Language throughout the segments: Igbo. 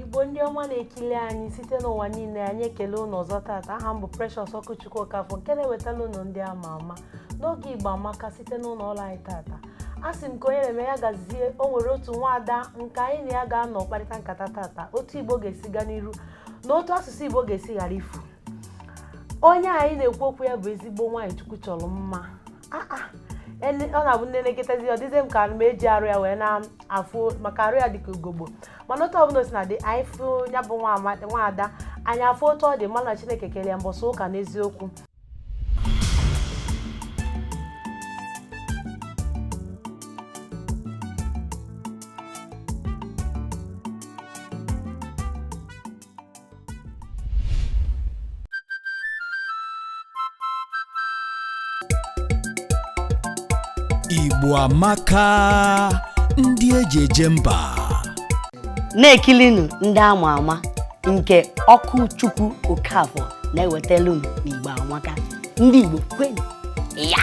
igbo ndị ọma na-ekili anyị site n'ụwa niile anyị ekele ụnụ ọzọ taata aha m bụ Precious Ọkụchukwu Okafọ nke na-ewetala ụnụ ndị ama ama n'oge igbo amaka site n'ụlọ ọrụ anyị taata a sị m ka onye na-eme ya gazie o nwere otu nwaada nke anyị na ya ga-anọ kparịta nkata taata otu igbo ga-esi gaa n'iru na otu asụsụ igbo ga-esi ghara ifu onye anyị na-ekwu okwu ya bụ ezigbo nwaanyị chukwu chọrọ mma Ah, ah. Ele- ọ na-abụ m nenekatazi ọ dịzie m ka m eji arụ ya wee na-afụ maka arụ ya dịka ugogbo mana otu ọbụla o sina dị anyị fụ ya bụ nwa ama- nwa ada anyị afụ otu ọ dị malụ na chineke kele ya mbọsị ụka n'eziokwu Igbo amaka ndị eji eje mba na-ekilinu ndị ama ama nke Ọkụchukwu okafọ na-ewetelu unu n'igbo amaka ndị igbo kwenu ya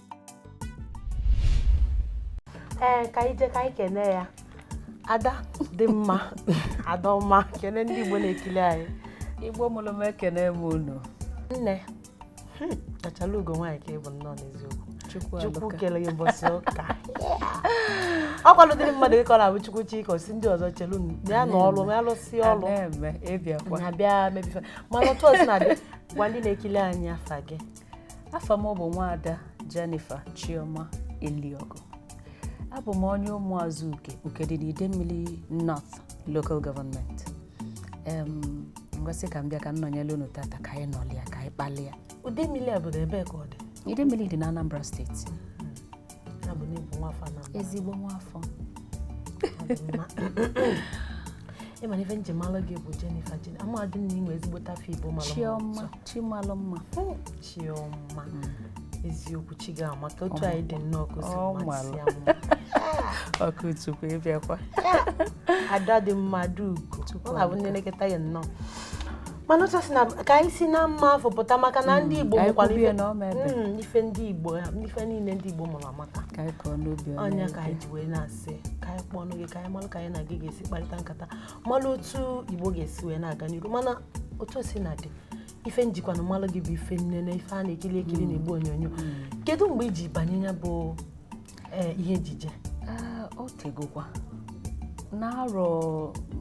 ee ka anyị jee ka anyị kene ya ada dị mma ada ọma kene ndị igbo na-ekili anyị igbo mụrụ m ekene m unu nne hmm, achalaugo nwaanyị ka ị bụ nnọọ n'eziokwu chukwu kele gị ụbọchị ụka ọ kwadodịrị mmadụ ịkọ na ọ bụ chukwu chi ka ọ sị ndị ọzọ chelu ya na ọlụ ya lụsị ọlụ na-abịa mebe ife mana otu o sina dị gwa ndị na-ekili anyị afa gị afa m bụ nwaada Jennifer Chioma Eliogu abụ m onye ụmụazụ uke uke dị n'Idemmili North Local Government m wee sị ka m bịa ka m nọnyere unu tata ka anyị nọlịa ka anyị kpalịa Idemmili a obodo ebe ka ọ dị Idemmili dị na Anambra state ezigbo nwafọ ị ma na ife m ji malụ gị bụ Jennifer Jennifer amadị m na i nwe ezigbote afa igbo malụ chioma chi malụ mma chioma eziokwu chi gị amaka otu a ị dị nnọọ ka o si masị ya mma Ọkụchukwu ị bịakwa ada dị mma ada ugo ọ na-abụ m nenekata ya nnọọ mana otu o sina ka anyị si na mma afụ pụta maka na ndị Igbo mụkwara ife mm, ife ndị Igbo ife niile ndị Igbo mụrụ amaka ọ ya ka anyị ji wee na-asị ka anyị kpọọnụ gị ka anyị malụ ka anyị na gị ga-esi kparịta nkata malụ otu Igbo ga-esi wee na-aga n'iru mana otu o sina dị ife m jikwanụ malụ gị bụ ife nnene ife a na-ekili ekili na mm. igbe onyonyo mm. kedu mgbe i ji banye ya bụ ee ihe ejije ah, o tegokwa n'arọ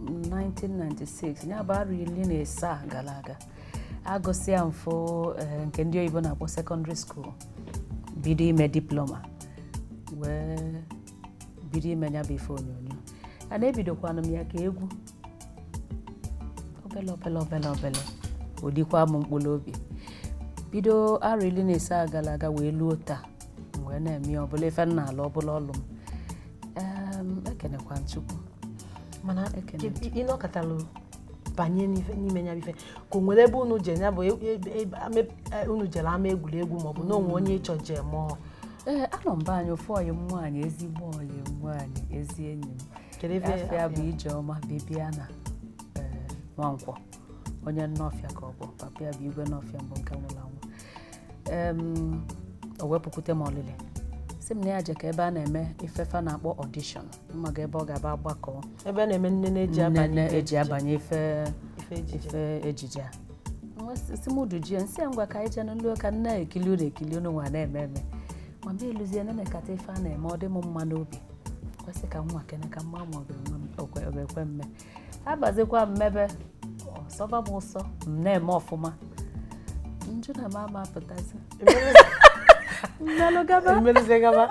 1996 ya bụ arọ iri na asaa gara aga agụsịa m ife eh, nke ndị oyibo na-akpọ secondary school bido ime diploma wee bido ime ya bụ ife onyonyo a na ebidokwanụ m ya ka egwu obele obele obele obele o likwa m mkpụrụ obi bido arọ iri na asaa gara aga wee luo taa wee na-eme ya ọ bụlụ ife m na-alụ ọ bụlụ ọlụ m Em, ekenekwa m chukwu mana Ekene. ke- ị nọkatalụ banye n'ife- n'ime ya bụ ife ka o nwere ebe unu je ya bụ e- e- e- ama- e- unu jere ama egwuregwu maọbụ na o nwee onye ị chọ je mụọ ee anọ m be anyị ofu ọyị m nwaanyị ezigbo ọyị m nwaanyị ezi enyi m afa ya bụ Ijeọma Bibiana ee, Nwankwọ onye Nọfịa ka ọ bụ papa ya bụ Igwe Nọfịa mbụ nke nwụrụ anwụ em, o wee pụkwute m ọlịlị sị m na ya jekọ ebe a na-eme ife fa na-akpọ audition mmaga ebe ọ ga-aba agbakọ ebe a na-eme nne na-eji abanye nne ife eji ejije. abanye ife ife ejije ife ejije a Nwa sị- sị m duje ya m sị ya ngwa ka anyị jee m luo ka m na-ekili unu ekili unu nwa na-eme eme ma m eluzie nenekata ife a na-eme ọ dị m mma n'obi m wee sị ka m nwaakene ka m ma ma ọ ga-enwe m- okwe- ọ ga-ekwe m mee abazikwa m mebe ọ sọba m ụsọ m na-eme ọfụma m jụ na m ama apụtazi m melụ gaba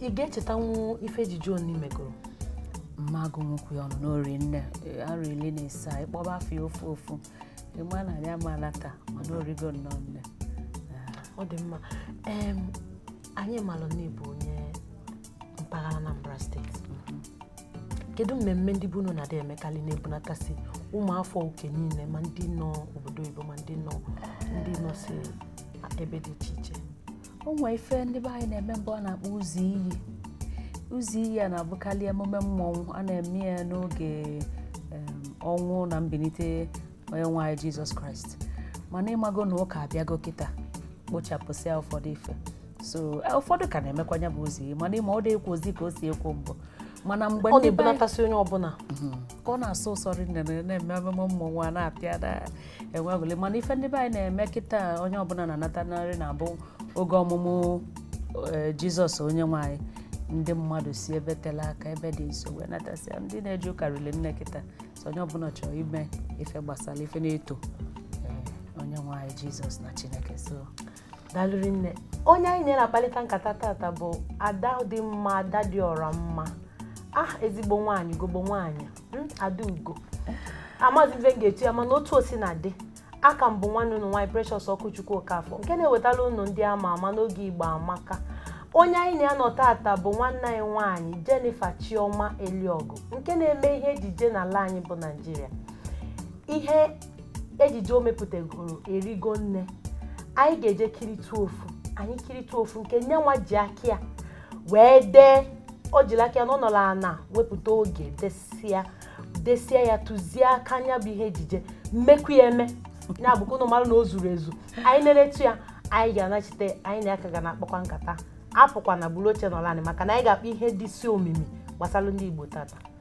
ị ga-echetanwu ife ejije one i megoro m ma-agụnwukwa ya ọnụ na o ri nne arọ ili na asaa ị kpọba afa ya ofu ofu ị ma na anyị ama ana taa mana o rigo nnọọ nne ọ dị mma anyị malụ na ị bụ onye mpaghara Anambra steeti kedu mmemme ndị be unu na-adị emekarị na-ebunatasị ụmụafọ oke niile ma ndị nọ obodo oyibo ma ndị nọ ndị nọ si ebe dị iche iche o nwee ife ndị be anyị na-eme mbụ a na-akpọ ụzọ iyi ụzọ iyi a na-abụkarị emume mmọnwụ a na-eme ya n'oge ọnwụ na mbilite onye nwe anyị Jizọs Kraịst mana ị mago na ụka abịago kịta kpochapụsịa ụfọdụ ife so eh, ụfọdụ ka na-emekwa nya bụ ụzọ iyi mana ị ma ọ dị ekwozi ka o si ekwo mbụ mana mbụ ọ na-ebunatasị onye ọbụla mhm. ka ọ na-asọ ụsọ rinne na-eme ememe mmọnwụ a na-apịa na-enwe aṅụlị mana ife ndị be anyị na-eme kịta onye ọbụla na-anatakarị na-abụ oge ọmụmụ eh, Jizọs onye nwe anyị ndị mmadụ si ebe tela aka ebe dị nso wee natasịa ndị na-eje ụka rili nne kịta so onye ọbụla chọrọ ime ife gbasara ife na-eto eh, onye nwe anyị Jizọs na Chineke so dalụ rinne onye anyị na ya na-akpalịta nkata tata bụ ada dị mma ada dị ọra mma ah ezigbo nwaanyị gogbo nwaanyị hmm, ada ugo amazi m ife m ga-etu ya mana otu o sina dị a ka m bụ nwanne unu nwaanyị Precious Okwuchukwu Okafọ nke na-ewetala unu ndị ama ama n'oge Igbo Amaka onye anyị na ya nọ tata bụ nwanne anyị nwaanyị Jennifer Chioma Eliogu nke na-eme ihe ejije n'ala anyị bụ Naịjirịa ihe ejije o mepụtagoro erigo nne anyị ga-eje kiritụ ofu anyị kiritụ ofu nke nya nwa ji aka ya wee dee o jiri aka ya nọrọ ana wepụta oge desia desia ya tụzie aka nya bụ ihe ejije mekwuo ya eme ya bụ ka ụnụ mara na o zuru ezu anyị neletụ ya anyị ga-anachite anyị na ya ka ga na-akpakwa nkata apụkwana buru oche nọrọ anị maka na anyị ga-akpa ihe dịsị omimi gbasara ndị Igbo tata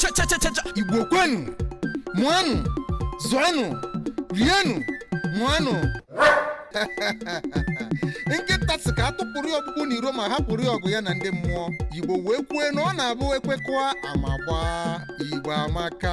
chachachacha igbo kwenu mụanụ zụanụ rienụ mụanụ nkịta sị ka a tụpụrụ ya ọkpụkpụ n'iro ma hapụrụ ya ọgụ ya na ndị mmụọ igbo wee kwue na ọ na-abụ e kwekọa ama gbaa igbo amaka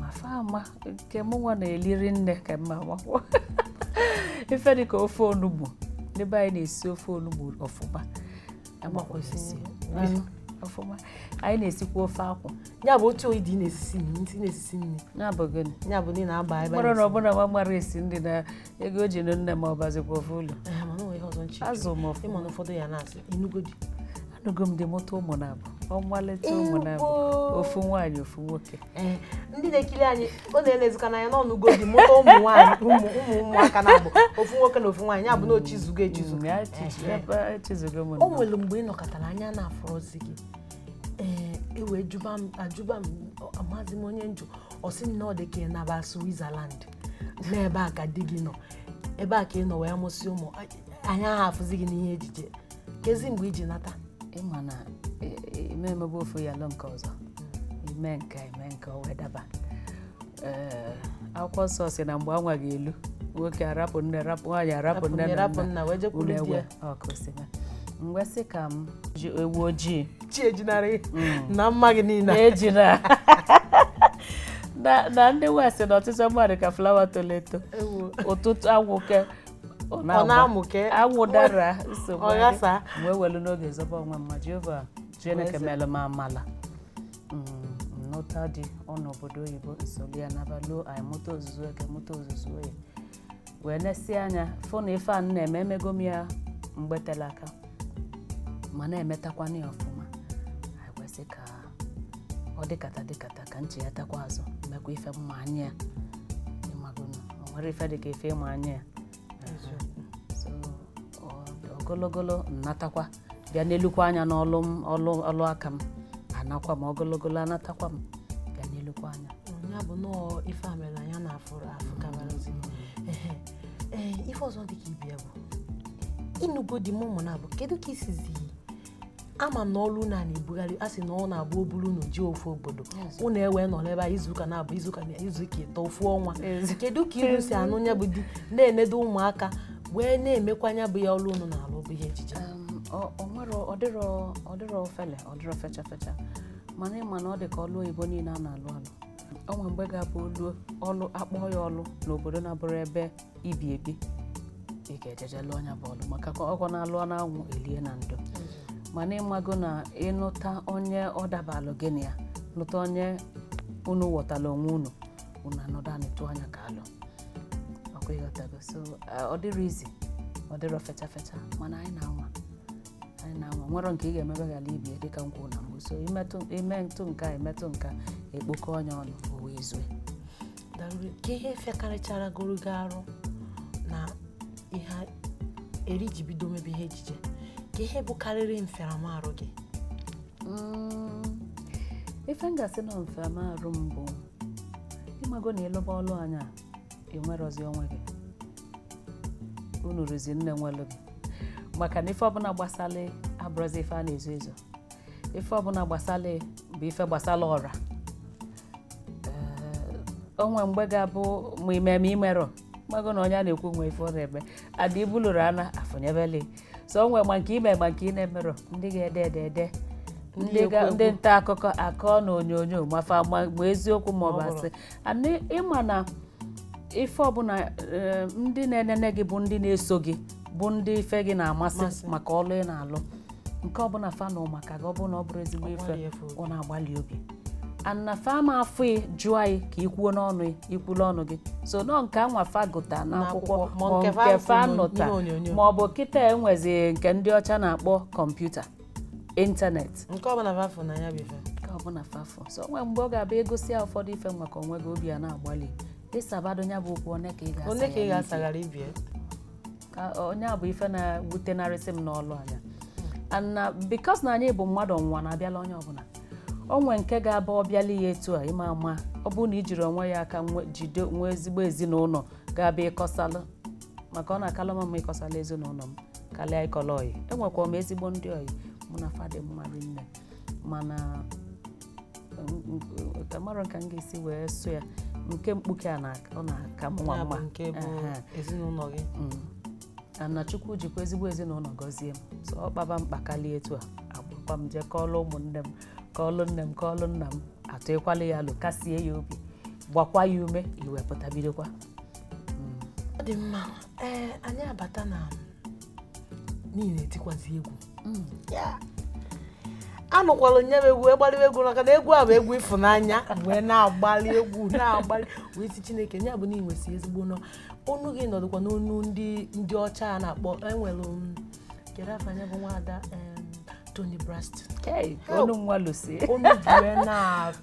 ma fa ama nke mụ nwa na-eli rinne ka mma amakwọ ife dị ka ofe onugbu n'ebe anyị na-esi ofe onugbu ọfụma amakwa osisi anụ ọfụma anyị na-esikwa ofe akwụ ya bụ otu ị dị ị na-esisi nri ị na-esisi nri ya bụ gịnị ya bụ na ị na-aba ebe mara na ọ bụ na nwa mara esi nri na ego e ji nụ nne ma ọ bazikwa ofe ụlọ Ee, mana o nwere ihe ọzọ nche azụ ma ọfụma ị ma na ụfọdụ ya na-asị ị nụgo di anụgo m di mụta ụmụ naabụ ọmalịcha ụmụ naabụ ofu nwaanyị ofu nwoke eh, ndị na-ekiri anyị ọ na-elezikwa n'anya na ọ nụgo di mụta ụmụ nwaanyị ụmụ ụmụaka naabụ ofu nwoke na ofu nwaanyị ya bụ na o chizugo echizu mm, eh, eh. o nwere mgbe ị nọkatara anya na-afụrọzi gị ee e wee jụba m ajụba m amazi m onye m jụ ọ sị m na ọ dị ka ị naba Switzerland na ebe a ka di gị nọ ebe a ka ị nọ wee mụsị ụmụ anya aha afụzi gị n'ihe ejije kezi mgbe i ji nata ị ma na i memebe ofu ya lu nke ọzọ i me nke i me nke o wee daba ee akwụkwọ nsọ sị na mgbe anwa ga-elu nwoke arapụ nne rapụ nwaanyị arapụ nne na rapụ nna nna wee jekwuru di ulegwe ya ọkụ si na mgbe sị ka m ji ewu ojii chi ejinarị na mma gị niile na-eji na na na ndị west na ọtụtụ mma dị ka flawa toro eto Ewo. ụtụtụ anwụ ke ọ na-agba na-amụke anwụ dara nsogbu ọ adị. ghasa M wee welu n'oge zọba onwe m ma jehova chineke mere m amala Mm, m nụta di ọ nọ obodo oyibo solu ya naba luo anyị mụta ozuzu eke mụta ozuzu oye wee nesie anya fụ na ife a m na-eme emego m ya mgbe tere aka ma na-emetakwana ya ọfụma anyị kwesị ka ọ dịkata dịkata ka m chịghatakwa azụ mekwa ife m ma anya ya ịmagonu o nwere ife dị ka ife ịma anya ya so ọ- ogologolo m natakwa bịa nelukwa anya n'ọlụ m ọlụ ọlụ aka m anakwa m ogologolo anatakwa m bịa nelukwa anya ya bụ nọọ ife a mere anya na-afụrụ afụ kabarazi Ehe. ee ife ọzọ dị ka ibie bụ ịnụgo di mụọ ụmụ naabọ kedu ka i sizi ama m na ọlụ unu a na-ebugharị a sị na ọ na-abụ o buru unu jee ofu obodo unu ewee nọ n'ebe a izuụka naabọ izuụka na izuụka ịtọ ofu ọnwa kedu ka unu si anụ nya bụ di na-enedo ụmụaka wee na-emekwa nya bụ ya ọlụ unu na-alụ bụ ihe ejije ọdịrọ ofele ọdịrọ fecha fecha mana ịma na ọ dị ka ọlụ oyibo niile a na-alụ alụ o nwe mgbe ga-abụ ọlụ ọlụ akpọọ ya ọlụ n'obodo na-abụrọ ebe i bi ebi ị ga-eje eje lụọ nya bụ ọlụ maka ka ọkwa na a lụọ n'anwụ e lie na ndo mana ịmago na ịnụta onye ọ dabalụ gị na ya lụta onye unu ghọtara onwe unu unu anọdụ anị tụa nya ka alo ọkwa ịghọtago so eh, ọ dịrọ easy ọ dịrọ fecha fecha mana anyị na-anwa anyị na-anwa o nwere nke ị ga-emebe ghara ibie dịka m kwuru na mbụ so imetụ imetụ nke a imetụ nke a e kpokọnye ọnụ o wee zue Dalụri, kee ihe fịakarịcharagoro gị arụ na ihe a- eri i ji bido mebe ihe ejije kee ihe bụkarịrị mfịaramarụ gị Mm, ife m ga-asị na mfịaramarụ m bụ ịmago na ịlụba ọlụ anyị a i nwerọzi onwe gị unu rụzi nne nwelụ gị maka na ife ọbụla gbasala ị abụrọzi ife a na-ezo ezo ife ọbụla gbasala ị bụ ife gbasala ọra o nwe mgbe ga-abụ ma i me ma i merọ mago na onye a na-ekwu nwe ife ọ na-eme ada ibulụrụ ana afụnyebele so o nwe ma nke i me ma nke ị na-emerọ ndị ga-ede ede ede ndị ga- ndị nta akụkọ akọ na onyonyo ma fa ma ma eziokwu ma ọ bụ asị and ịma na ife ọbụla eh, ndị na-enene gị bụ ndị na-eso gị bụ ndị ife gị na-amasị Masị. maka ọlụ ị na-alụ nke ọbụla fa nụ maka gị ọ bụrụ na ọ bụrọ ezigbo ife gbalụa fa obi. ọ na-agbalụ obi and na fa ama afụ ị jụa ị ka ị kwuo n'ọnụ ị ikwulu ọnụ gị sọ nọọ nke anwa fa gụta n'akwụkwọ N'akwụkwọ, ma ma nke fa nke fa fụ nụta n'ihe onyonyo. ma ọ bụ kịta e nwezi nke ndị ọcha na-akpọ kọmputa ịntanetị nke ọbụla fa fụ na ya bụ ife nke ọbụla fa fụ so o nwe mgbe ọ ga-abụ e gosia ụfọdụ ife maka onwe gị ọ bịa na-agbalị ịsabado ya bụ okwu one ka ị ga-asa one ka ị ga-asaghara ibie ka ọ nya bụ ife na-ewutenarịsị m n'ọlụ anyị a and because na anyị bụ mmadụ ọnwụnwa na-abịala onye ọbụla o nwe nke ga-abụ ọ bịala ya etu a ịma ama ọ bụrụ na ijiri onwe ya aka jide nwe ezigbo ezinụlọ ga-abịa ịkọsalụ maka ọ na-akala m mma ịkọsala ezinụlọ m karịa ịkọla ọyị enwekwa m ezigbo ndị ọyị mụ na fa dị mma rinne mana amarọ ka m ga-esi wee sụọ ya nke mkpuke a na- ọ na-aka m nwa Ya bụ mma nke bụ Ehe. ezinụlọ gị Mm. na chukwu jikwa ezigbo ezinụlọ gọzie m so ọ kpaba mkpa karịa etu a agbakwa m jee kọọlụ ụmụnne m kọọlụ nne m kọọlụ nna m atụkwala ya alo kasie ya obi gbakwa ya ume i wee pụta bidokwa ọ dị mma ee anyị abata na na ị na-etikwazi egwu mm. anụkwala nye m egwu agbalịwa egwu maka na egwu a bụ egwu ịfụnanya wee na-agbalị egwu na-agbalị wee sị chineke ya bụ na ị nwesị ezigbo onu onu gị na ọ dịkwa m onu ndị ndị ọcha a na-akpọ enwere kedu afa ya bụ nwaada Toni Braxton onu nwa Lucy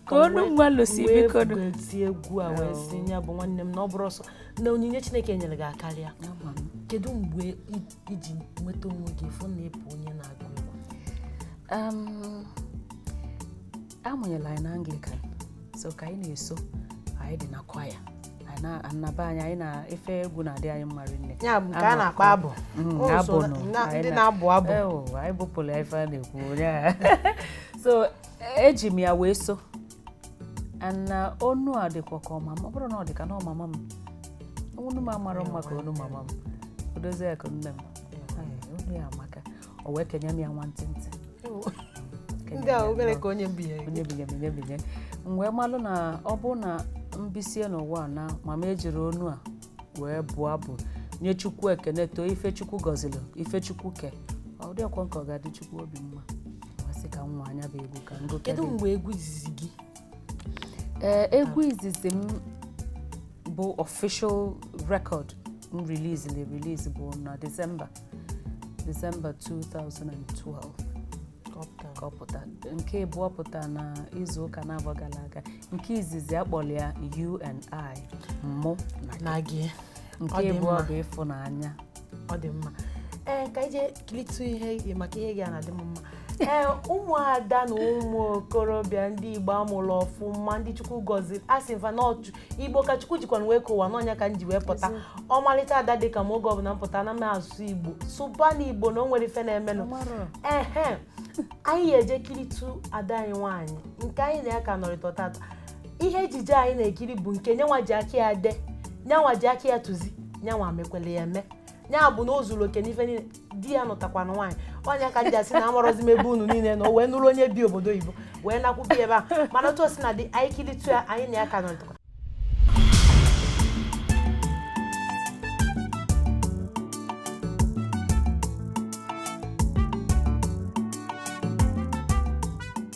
ka onu nwa Lucy biko eti egwu a wee sị ya bụ nwanne m na ọ bụrọ sọ na onyinye Chineke nyere gị akarịa kedu mgbe i ji nweta onwe gị fụ na ị bụ onye na-agụ egwu a mụnyelụ anyị na Anglican so ka anyị na-eso anyị dị na choir anyị na- na be anyị anyị na ife egwu na-adị anyị mma rinne ya bụ nke a na-akpọ abụ Mm, O so abụ na- nụ. na- Anyị ndị na- na-abụ abụ Ewo, anyị bụpụrụ ya ife a na-ekwu onye a. so eji m ya wee so na onu a dịkwa ka onu mama ọ bụrọ na ọ dị ka onu mama m onu m amarọ mma ka onu mama m odozi ya ka nne m Ee, onu ya amaka o wee kenye m ya nwantịntị ndị a obere ka onye mbinye onye binye binye binye m wee malụ na ọ bụ na m bisie n'ụwa a na ma m ejirọ onu a wee bụọ abụ nye chukwu ekene too ife chukwu gọziri ife chukwu ke ọ dịrọkwa nke ọ ga-adị chukwu obi mma wee sị ka nwa nya bụ egwu ka m gụọ kedu mgbe egwu izizi gị ee egwu izizi m bụ official record m release na release bụ na December December 2012 ka ọ pụta nke abụọ pụta na izu ụka naabọ gara aga nke izizi a kpọrọ ya you and I mụ na gị nke abụọ bụ ịfụnanya ọ dị mma ee ka e jee kilitu ihe maka ihe gị a na-adị m mma ee ụmụada na ụmụ okorobịa ndị Igbo a mụrụ ọfụma ndị Chukwu gọziri a sị m fa na igbo ka chukwu jikwanụ wee kee ụwa na ọ nya ka m ji wee pụta ọmalịcha ada dị ka m oge ọbụla m pụta na m asụ igbo sụbanụ igbo na o nwere ife na-emenụ ehe anyị ga-eje kiritu ada anyị nwaanyị nke anyị na ya ka nọrịta tata ihe ejije anyị na-ekiri bụ nke nyanwa ji aka ya de nyanwa ji aka ya tụzie nyanwa mekwele ya eme nyanwa bụ na o zuru oke n'ife niile di ya nụtakwanụ nwaanyị ọ nya ka m ji asị na amarọzi m ebe unu niile nọ wee nụrụ onye bi obodo oyibo wee nakwụbi ebe a mana otu o sina dị anyị kilitu ya anyị na ya ka nọ ntụkọ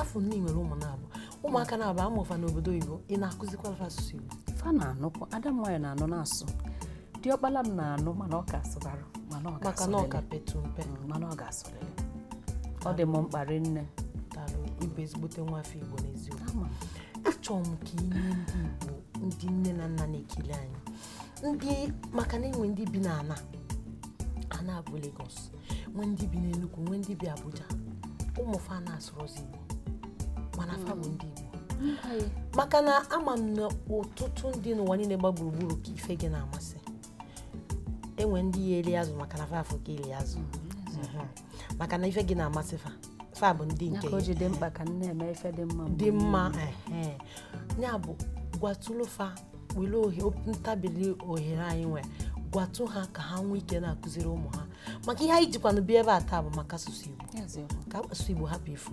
afọ nne i nwere ụmụ naabọ ụmụaka naabọ a mụụ fa n'obodo oyibo ị na-akụzikwara fa asụsụ igbo fa na-anụkwu ada m nwaanyị na-anụ na-asụ diọkpala m na-anụ mana ọ ka asụbarọ mana ọ maka na ọ ga-asụlịlị. ka petụ mpe Mm, mana ọ ga-asụ ọ dị m mkpa rinne daalụ ị bụ ezigbote nwa afọ igbo n'eziokwu ama achọrọ m ka i nye ndị igbo ndị nne na nna na-ekiri anyị ndị maka na e nwe ndị bi n'ana ana a bụ Lagos nwee ndị bi n'Enugu nwee ndị bi Abuja ụmụ fa na-asụrọzi igbo mana fa bụ ndị igbo mba ya maka na ama m na ọtụtụ ndị n'ụwa niile gba gburugburu ka ife gị na-amasị e nwe ndị ya-eri azụ maka na fa afụ ka i ri azụ Mhm. maka na ife gị na-amasị fa fa bụ ndị nke ka o ji dị mkpa ka m na-eme ife dị mma mgbe dị mma ehe. ya bụ gwatụlụ fa were ohe ntabili ohere anyị nwere gwatụ ha ka ha nwee ike na-akụziri ụmụ ha maka ihe anyị jikwanụ bịa ebe a taa bụ maka asụsụ Igbo niile. Eziokwu. ka asụsụ Igbo hapụ ifu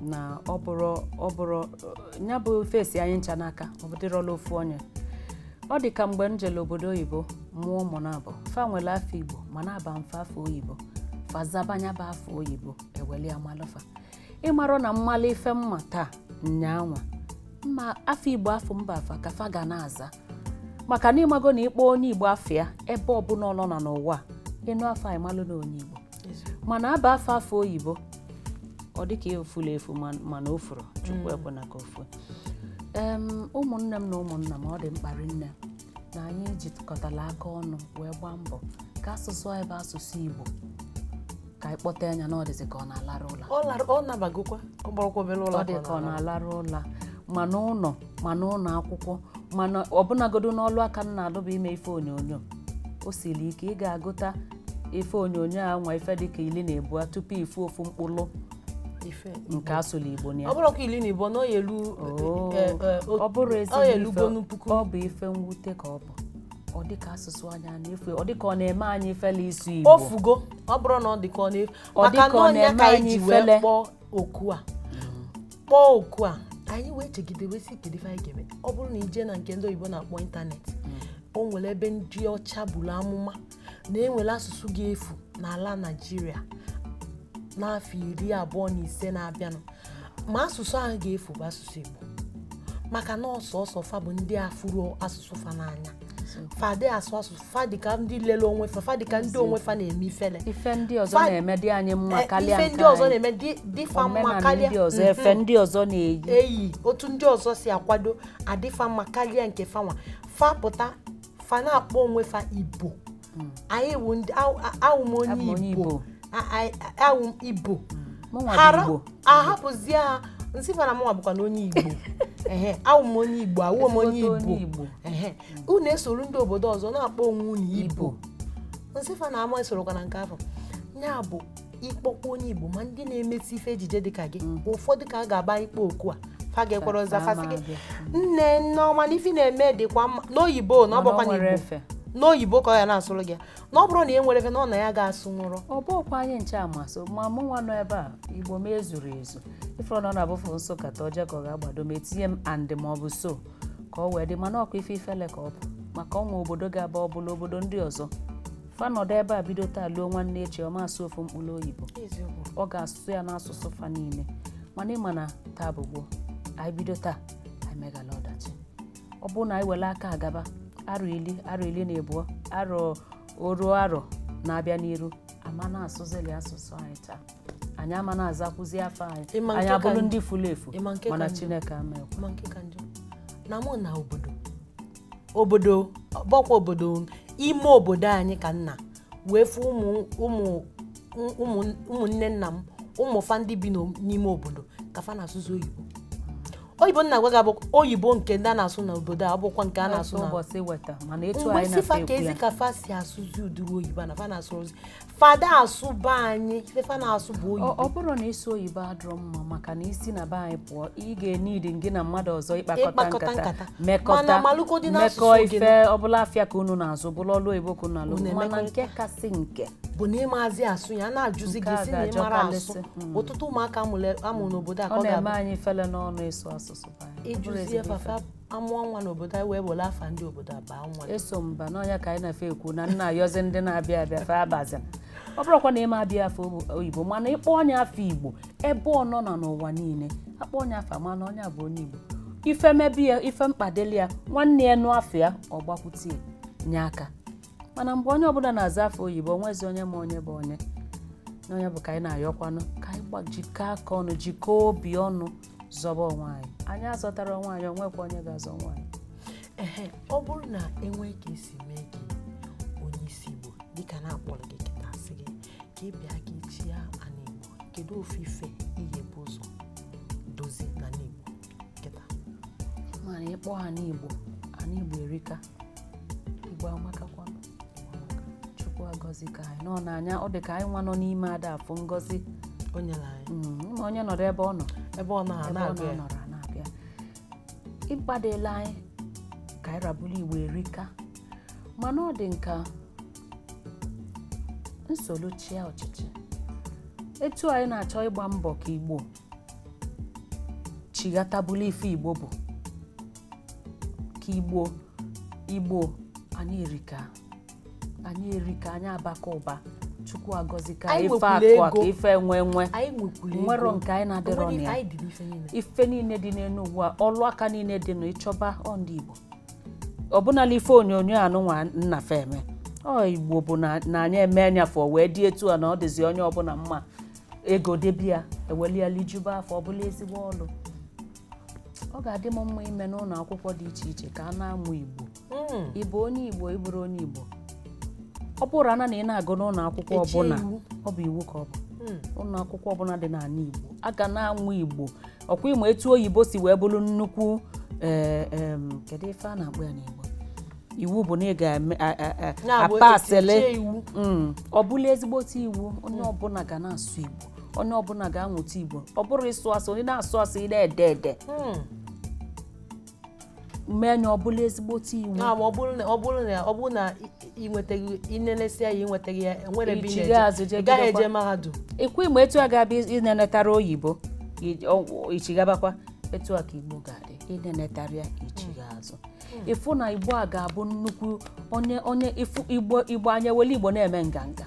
na ọ bụrụ ọ bụrụ ya bụ ife si anyị ncha n'aka ọ bụdịrọ ọlụ ofu onye ọ dị ka mgbe m jere obodo oyibo mụọ ụmụ naabọ fa nwere afa igbo mana a baa m fa afa oyibo fa zaba nya bụ afa oyibo e weli ya malụ fa ị marọ na m malụ ife m ma taa nyaa nwa mma afa igbo afa m ba fa ka fa ga na-aza maka na ị mago na ị kpọọ onye igbo afa ya ebe ọbụla ọ nọ na n'ụwa ị nụ afa anyị malụ na onye igbo mana a baa fa afa oyibo ọ dịka o fula efu mana o furọ chukwu mm. ekwena ka o fuo ụmụnne m na ụmụnna m ọ dị mkpa rinne na anyị jikọtara aka ọnụ wee gbaa mbọ ka asụsụ anyị bụ asụsụ Igbo ka anyị kpọte nya na ọ dịzi ka ọ na-alarụ ụla ọ nabagokwa ọ bụrọkwa obere ụla ọ dị ka ọ na-alarụ ụla ma n'ụnọ ma n'ụnọ akwụkwọ mana ọbụnagodu n'ọlụ aka m na-alụ bụ ime ife onyonyo o siri ike ị ga-agụta ife onyonyo a nwa ife dịka iri na ịbụa tupu ị fụ ofu mkpụrụ nke a sụlụ igbo na ya ọ bụrọkwa iri na ịbụa na ọ ya-elu Oo. eh, eh, o- ọ bụrụ ọ ya-elu ezigbo gonu ife puku ọ bụ ife mwute ka ọ bụ ọ dịka asụsụ anyị a na-efu ọ dịka ọ na-eme anyị ifele ịsụ igbo o fugo ọ bụrọ na ọ dị ka ọ na-efu Ọ dị ka ọ na-eme anyị ifele. maka na ọ nya ka anyị ji wee kpọọ oku a kpọọ oku a anyị wee chegide wee sị kedu ife anyị ga-eme ọ bụrụ na i je na nke ndị oyibo na-akpọ ịntanetị o nwere ebe ndị ọcha bulu amụma na e nwere asụsụ ga-efu n'ala naijiria n'afọ iri abụọ na ise na-abịanụ ma asụsụ ahụ ga-efu bụ asụsụ igbo maka na ọ sọsọ fa bụ ndị afụrọ asụsụ fa n'anya fa adị asụ asụ fa dịka ndị lele onwe fa fa dịka ndị onwe fa na-eme ifele ife ndị ọzọ na-eme dị anyị mma karịa ife ndị ọzọ na-eme dị- dị fa mma karịa efe ndị ọzọ na-eyi otu ndị ọzọ si akwado adị fa mma karịa nke fa nwa fa pụta fa na-akpọ onwe fa ibo Mm. anyị wụ ndị awụ- a- awụ m Abụ m onye igbo A- a- a- awụ m igbo mụnwa bụ hara igbo ahapụzie ha m sị fa na mụnwa bụkwanụ onye igbo ehe awụ m onye igbo awụ m onye Ezigbote onye igbo igbo ehe unu esoro ndị obodo ọzọ na-akpọ onwe unu ibo ibo m sị fa na ama esorokwa na nke afọ ya bụ ịkpọkwa onye igbo ma ndị na-emesi ife ejije dịka gị mm. ụfọdụ ka a ga-agba ịkpọ oku a fa ga-ekwere ọzọ fa sị gị nne nneọma na ife ị na-eme dịkwa mma n'oyibo na ọ bụkwa n'igbo n'oyibo ka ọ ya na-asụrụ gị na ọ bụrụ na e nwere ife na ọ na ya ga-asụ nwụrụ ọ bụkwa anyị ncha ama asụ ma mụ nwa nọ ebe a igbo m ezurọ ezu ị fụrụ na ọ na-abụ m sụkata o je ka ọ ga-agbado m etinye and ma ọ bụ so ka ọ wee dị mana ọ kwa ife ifele ka ọ bụ maka o nwe obodo ị ga-aba ọ bụla obodo ndị ọzọ fa nọdụ ebe a bido taa luo nwanne echi ọ ma asụ ofu mkpụrụ oyibo ọ ga-asụ ya n'asụsụ fa niile mana ị ma na taa bụ gboo anyị bido taa anyị megala ọdachi ọ bụrụ na anyị were aka agaba arọ ili arọ ili na abụọ arọ oru arọ na-abịa n'iru a ma na-asụzili asụsụ anyị taa anyị ama na-azakwuzi afa anyị anyị abụrụ ndị furu efu mana chineke ama ekwe ị ma nke ka njọ na mụ naa obodo obodo ọ bụkwa obodo ime obodo anyị ka m naa wee fụ ụmụ ụmụ ụmụ ụmụnne nna m ụmụ fa ndị bi n'o- n'ime obodo ka fa na-asụzi oyibo oyibo m na-agwa gị bụ oyibo nke ndị a na-asụ n'obodo a abụkwa nke a na-asụ na ụbọchị weta mana etu mgbe anyị si fa ka na-ekwu ezi ya ka fa si asụzi ụdịrị oyibo a na fa na-asụzi fa ada asụ be anyị ife fa na-asụ bụ oyibo ọ bụrọ na ịsụ oyibo adịrọ mma maka na i si na be anyị pụọ ị ga-enidi gị na mmadụ ọzọ ịkpakọta nkata mekọta mekọ ife ọbụla afịa ka unu na-azụ bụrụ ọlụ oyibo ka unu na-alụ mana nke kasị nke bụ na ị mazi asụ ya na-ajụzi gị sị na ị mara asụ hmm. ọtụtụ ụmụaka a mụrụ n'obodo a ka ọ na-eme anyị ifele n'ọnụ ịsụ asụsụ ị jụzie fa afa a mụọ nwa n'obodo anyị wee were afa ndị obodo a baa nwa eso m ba n'ọnya ka anyị na-efe ekwu na m na-ayọzi ndị na-abịa abịa fa abazi ọ bụrọkwa na ị ma aba afa oyibo mana ị kpọọ onye afa igbo ebe ọ nọna n'ụwa niile a kpọọ onye afa a ma na onye bụ onye igbo ife mebe ya ife mkpa dịlị ya nwanne ya nụ afa ya ọ gbakwute ya nye aka mana mgbe onye ọbụla na-aza afa oyibo o nwezi onye ma onye bụ onye na onye bụ ka anyị na-ayọkwanụ ka anyị gbajikọ aka ọnụ jikọọ obi ọnụ zọba onwe anyị anyị azọtarọ onwe anyị onwekwa onye ga-azọ onwe anyị ehe ọ bụrụ na enwee ka esi mee gị onye isi igbo dịka na akpọrọ gị kịta asị gị ka ị bịa ka ị chịa ana igbo kedu ofu ife ị ga-ebu ụzọ dozie n'ana igbo kịta mana ị kpọọ ana igbo ana igbo erika igbo amakakwa chukwu agọzika anyị nọ n'anya ọ dị ka anyị nwa nọ n'ime ada afụ ngọzi o nyere anyị Mm, ma onye nọrọ ebe ọ nọ ebe ọ nọ ha ebe ọ na-agụ ya nọrọ na-abịa ịgbadela anyị ka anyị rabụrụ igbo erika mana ọ dị m ka m solu chịa ọchịchị etu anyị na-achọ ịgba mbọ ka igbo chighata bụlụ ife igbo bụ ka igbo Igbo anyị erika anyị erika anyị abaka ụba chukwu agọzika ife akụ aka ife enwe enwe o nwerọ nke anyị na-adịrọ na ya ife niile dị n'elu ụwa ọlụ aka niile dị na ịchọba ọ ndị Igbo ọbụnala ife onyonyo anụnwa nna feme ọ Igbo bụ na anyị eme anya fọ wee dị etu a na ọ dịzi onye ọbụla mma ego debia ewelu lijuba afọ ọ bụlụ ezigbo ọlụ ọ ga-adị m mma ime n'ụlọ akwụkwọ dị iche iche ka a na-amụ Igbo hmm. ị bụ onye Igbo ị bụrụ onye Igbo ọ bụrụ ana na ị na-agụ n'ụlọ akwụkwọ ọbụla ọ bụ iwu ka ọ bụ hmm. ụlọ akwụkwọ ọbụla dị n'ana Igbo a ga na-amụ Igbo ọkwa ịma etu oyibo si wee bụrụ nnukwu eh, kedu ife a na-akpọ ya n'Igbo iwu bụ na ị ga-apasịlị hmm. ọ bụlụ ezigbote iwu onye ọbụla ga na-asụ Igbo onye ọbụla ga-amụta igbo ọ bụrụ ịsụ asụ onye na-asụ asụ ị na-ede ede hmm. mee nya ọ bụlụ ezigbote iwu ah, ọ bụrụ na ị nwetaghị inenesịa ya ịnwetaghị ya enwere ebe ị gaghị eje mahadum ọkwa ịma etu a ga-abụ ịnenetarọ oyibo ichighabakwa etu a ka igbo ga-adị ịnenetarọ ya ichigha azụ hmm. ịfụ na igbo a ga-abụ nnukwu onye onye igbo igbo anyị welu igbo na-eme nganga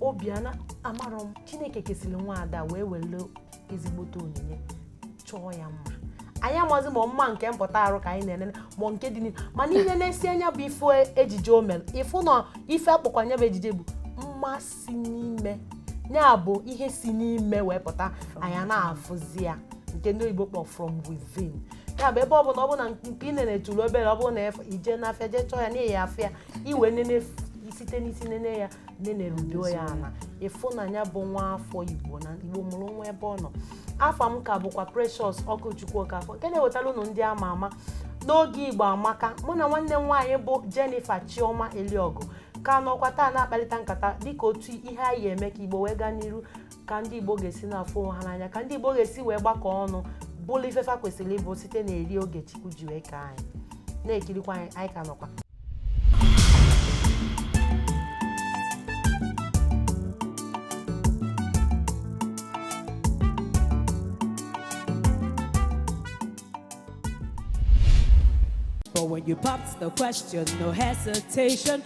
obiana amara m chineke kesịrị nwa ada wee were ezigbote onyinye chọọ ya mma anyị amazi ma mma nke mpụta arụ ka anyị na-enene ma nke dị n'ihu mana inenesie nya bụ ife ejiji o mere ịfụ na ife a kpọkwa nya bụ ejiji bụ mma si n'ime ya bụ ihe si n'ime wee pụta anyị na-afụzi ya nke ndị oyibo kpọ from within ya bụ ebe ọ bụla ọ bụla nke ị na-eturu obere ọ bụrụ na ije n'afịa jee chọọ ya n'ime afịa iwe nene site n'isi nene ya nenerudo ya ana ịfụ na ya bụ nwa afọ igbo na igbo mụrụ nwa ebe ọ nọ afa m ka bụkwa precious okwuchukwu okafọ nke na-ewetara ụnụ ndị ama ama n'oge igbo amaka mụ na nwanne m nwaanyị bụ jennifer chioma eliọgụ ka nọkwa taa na-akparịta nkata dịka otu ihe a ya-eme ka igbo wee gaa n'iru ka ndị igbo ga-esi na-afụ onwe ha n'anya ka ndị igbo ga-esi wee gbakọ ọnụ bụlụ ife fa kwesịrị ịbụ site na eri oge chukwu ji wee kee anyị na-ekirikwa anyị anyị ka nọkwa But when you popped the question, no hesitation,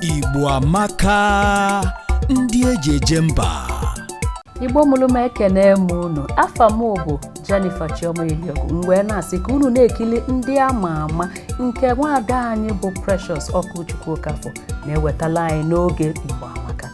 Igbo amaka ndị eji eje mba Igbo mụrụ m ekene m unu afa m bụ Jennifer Chioma Eliogu m wee na-asị ka unu na-ekili ndị ama ama nke nwaada anyị bụ Precious Okwuchukwu Okafọ na-ewetala anyị n'oge Igbo amaka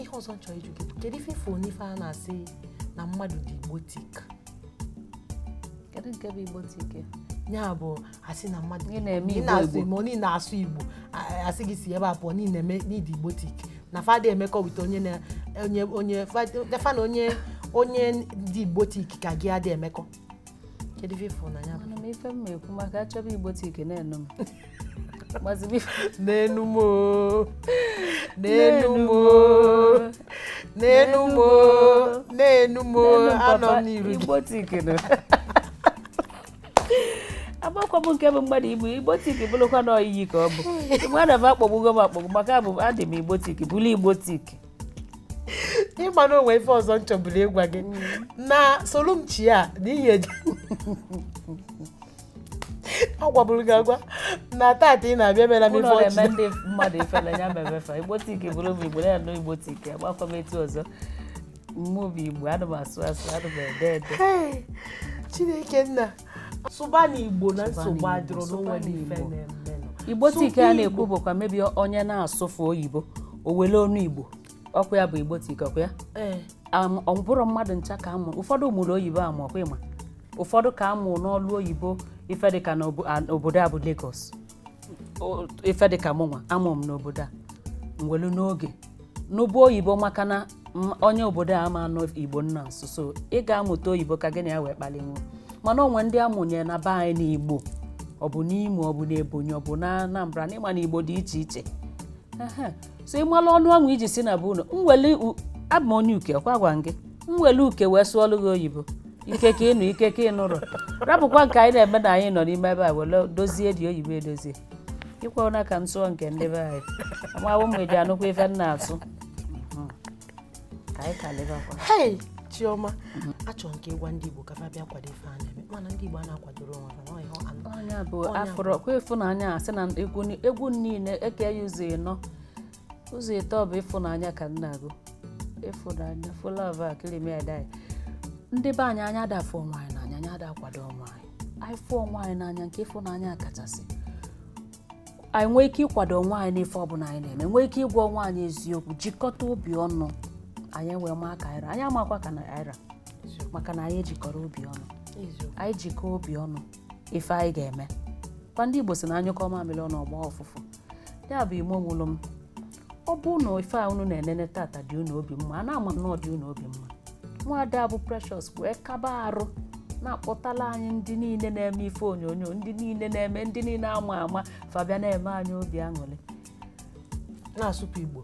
ihe ọzọ m chọ ịjụ gị kedu ife ị fụ n'ife a na-asị na mmadụ dị Igbotic kedu nke bụ Igbotic ya bụ a sị na mmadụ ị na-eme igbo igbo ma onye na-asụ igbo a sị gị si ebe a pụọ na ị dị Igbotic na fa adị emekọ with onye na onye onye fa na onye onye dị Igbotic ka gị adị emekọ kedu ife ị fụ na ya bụ m ife m ekwu maka a chọba Igbotic na-enu m n'enu m n'enu m n'enu m n'enu m anọ m n'iru Igbotic agbakwa m nke bụ mmadụ igbo Igbotic bụrụkwa na oyiyi ka ọ bụ mmadụ bụ akpọgbugo m akpọgbu maka abụ adị m Igbotic bụrụ Igbotic ị ma na o nwe ife ọzọ m chọburu ịgwa gị na solumchi a na ihe eji agwaburu gị agwa na tata ị na-abịa mere m ife ụlọ na-eme ọchị ndị mmadụ ifele ya mebe fa Igbotic bụrụ m igbo na-anụ Igbotic agbakwa m etu ọzọ mmụbi igbo ana m asụ asụ ana m ede ede Hey, chineke nna sụba na igbo na nsogbu adịrọ n'onwe n'ife Igbotic a na-ekwu bụkwa maybe onye na-asụfu oyibo o wele ọnụ igbo ọkwa ya bụ Igbotic ọkwa ya eh. ọ bụrọ mmadụ ncha ka a mụ ụfọdụ mụrụ oyibo amụ ọkwa ị ma ụfọdụ ka a mụ n'ọlụ oyibo ife dịka n'obodo a bụ Lagos ife dịka mụnwa a mụ m n'obodo a m welu n'oge nụba oyibo maka na onye obodo a ama anụ igbo ị na-asụ so ị ga-amụta oyibo ka gị na ya wee kpalinwu mana o nwe ndị a mụnye na be anyị n'igbo ọ bụ n'Imo ọ bụ n'Ebonyi ọ bụ na Anambra na ị ma na igbo dị iche iche so ị mara ọnụ ọnwụ iji si na bụ unu m wele u- abụ m onye Uke kwa gwa m gị m wele Uke wee sụọlụ gị oyibo ike ka ịnụ ike ka ịnụrụ rapụkwa nke anyị na-eme na anyị nọ n'ime ebe a wele dozie dị oyibo edozie ị kwe na ka m sụọ nke ndị be anyị amawo m eji anụkwa ife m na-asụ ka anyị ka lebe akwa hei chioma achọrọ m ka ị gwa ndị igbo ka fa bịa kwado ife a na-eme mana ndị igbo a na-akwadoro onwe ha na ọhịa anụ onye bụ Onye afọrọ kwa ịfụnanya a sị na egwu ni- egwu niile e kee ya ụzọ ịnọ ụzọ ịtọ bụ ịfụnanya ka a na-agụ ịfụnanya fụlọv a kirimi adai ndị be anyị anyị ada afụ onwe anyị n'anya anyị ada akwado onwe anyị anyị fụ onwe anyị n'anya nke ịfụnanya kachasị anyị nwee ike ịkwado onwe anyị n'ife ọbụla anyị na-eme nwee ike ịgwa onwe anyị eziokwu jikọta obi ọnụ anyị wee maa ka anyị ra anyị amakwa ka na anyị ra maka na anyị ejikọrọ obi ọnụ anyị jikọọ obi ọnụ ife anyị ga-eme kwa ndị Igbo si na a nyụkọọ mamịrị ọnụ ọ gbaa ọfụfụ ya bụ ime ụlọ m ọ bụ na ife a unu na-enene tata dị unu obi mma a na-ama na ọ dị unu obi mma nwaada bụ precious wee kaba arụ na-akpọtala anyị ndị niile na-eme ife onyonyo ndị niile na-eme ndị niile ama ama fa abịa na-eme anyị obi aṅụrị na-asụpụ igbo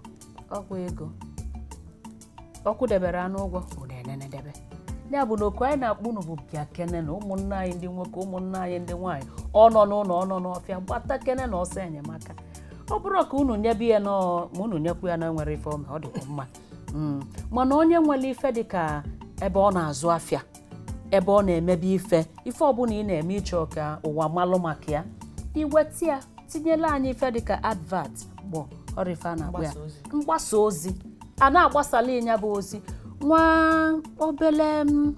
ọ kwa ego ọ kwụdebere anụ ụgwọ unu enenedebe ya bụ na oku anyị na-akpọ unu bụ bịakene nụ ụmụnna anyị ndị nwoke ụmụnna anyị ndị nwaanyị ọ nọ n'ụlọ ọ nọ n'ọfịa gbatakene nụ ọsọ enyemaka ọ bụrọ ka unu nyebe ya na ma unu nyekwu ya na enwerọ ife o me ọ dịkwa mma Mm. mana onye nwere ife dị ka ebe ọ na-azụ afịa ebe ọ na-emebe ife ife ọbụla ị na-eme ị chọọ ka ụwa malụ maka ya i weta ya tinyela anyị ife dịka advert bụ ọ rọ ife a na-akpọ ya Mgbasa ozi. mgbasa ozi a na-agbasala ị nya bụ ozi nwa obele m,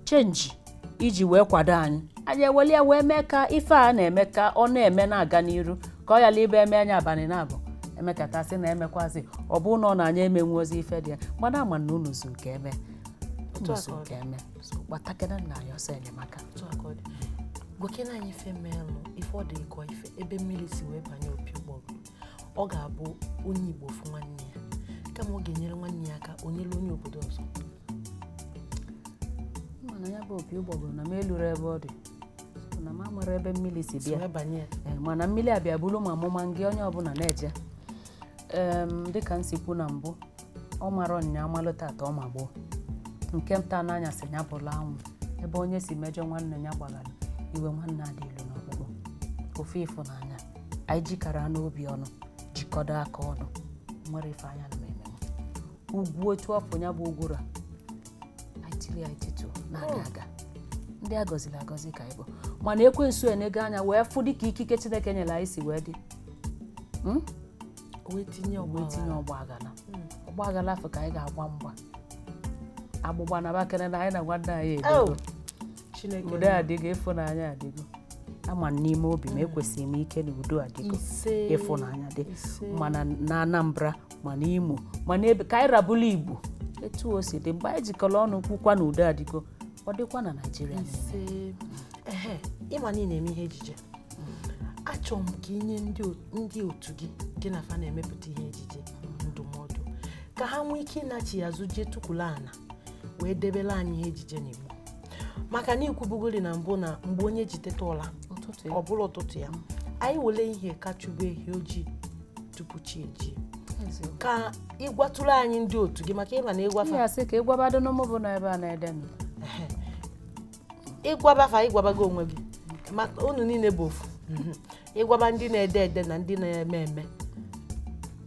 change i ji wee kwado anyị anyị eweli ya wee mee ka ife a na-eme ka ọ na-eme na-aga n'iru ka ọ yala ịbụ e mee nya abalị naabọ e mekata sị na emekwazi ọ bụrụ na ọ na anyị emenwuzi ife dị ya mana ama m na unu zuru ka eme otu a ka ọ dị. eme gbatakene anyị ọsọ enyemaka otu a ka ọ dị gwakene anyị ife meelụ ife ọ dị ịkọ ife ebe mmiri si wee banye opi ụgbọgụ ọ ga-abụ onye igbo fụ nwanne ya kama ọ ga-enyere nwanne ya aka o nyere onye obodo ọzọ mana ya bụ opi ụgbọgụrụ na m elurọ ebe ọ dị so na m amarọ ebe mmiri si si bịa wee banye ya Ee, mana mmiri abịa bụrụ ma amụma nga onye ọbụla na-eje Em, dịka m si kwu na mbụ ọ mara nya malụ tata ọ ma gboo nke m ta n'anya sị ya bụlụ anwụ ebe onye si mejọ nwanne ya gbaghara iwe nwanne ada elu n'ọkpụkpụ ofu ịfụnanya anyị jikọrọ obi ọnụ jikọdo aka ọnụ enwerọ ife anyị na-ama eme ugwu otu ọfụ ya bụ ugwu ra anyị tiri anyị tituo na-aga aga ndị a gọziri agọzi ka anyị bụ mana ekwensu enego anya wee fụ dịka ikike chineke nyere anyị si wee dị Mm? wee tinye ọgba wee tinye ọgba aghara ọgba aghara fa ka anyị ga-agwa mgba agbụgba nabakwa na anyị na nwanne anyị edogo Oh, Chineke udo adịgo ịfụnanya adịgo ama m n'ime obi m ekwesiri m ike na udo adịgo ise ịfụnanya dị ise. ma na Anambra ma na Imo ma na ebe ka anyị ra bụlụ Igbo etu o si dị mgbe anyị jikọrọ ọnụ kwukwa na udo adịgo ọ dịkwa na Naịjirịa niile. ise ehe ị ma na ị na-eme ihe ejije achọrọ m ka i nye ndị otu gị gị na fa na-emepụta ihe ejije ndụmọdụ ka ha nwee ike ịnachi azụ jee tukwulu ana wee debere anyị ihe ejije n'Igbo maka na i kwubugori na mbụ na mgbe onye ji teta ụla ọ bụrụ ụtụtụ ya anyị wele ihe ka chụbe ehi ojii tupu chi ejie ka ị gwatụrụ anyị ndị otu gị maka ị ma na ị gwa fa ka ị gwabado n'ụmụ bụ na ebe a na-ede ị gwaba fa ị gwabago onwe gị maka unu niile bụ ofu ị gwaba ndị na-ede ede na ndị na-eme eme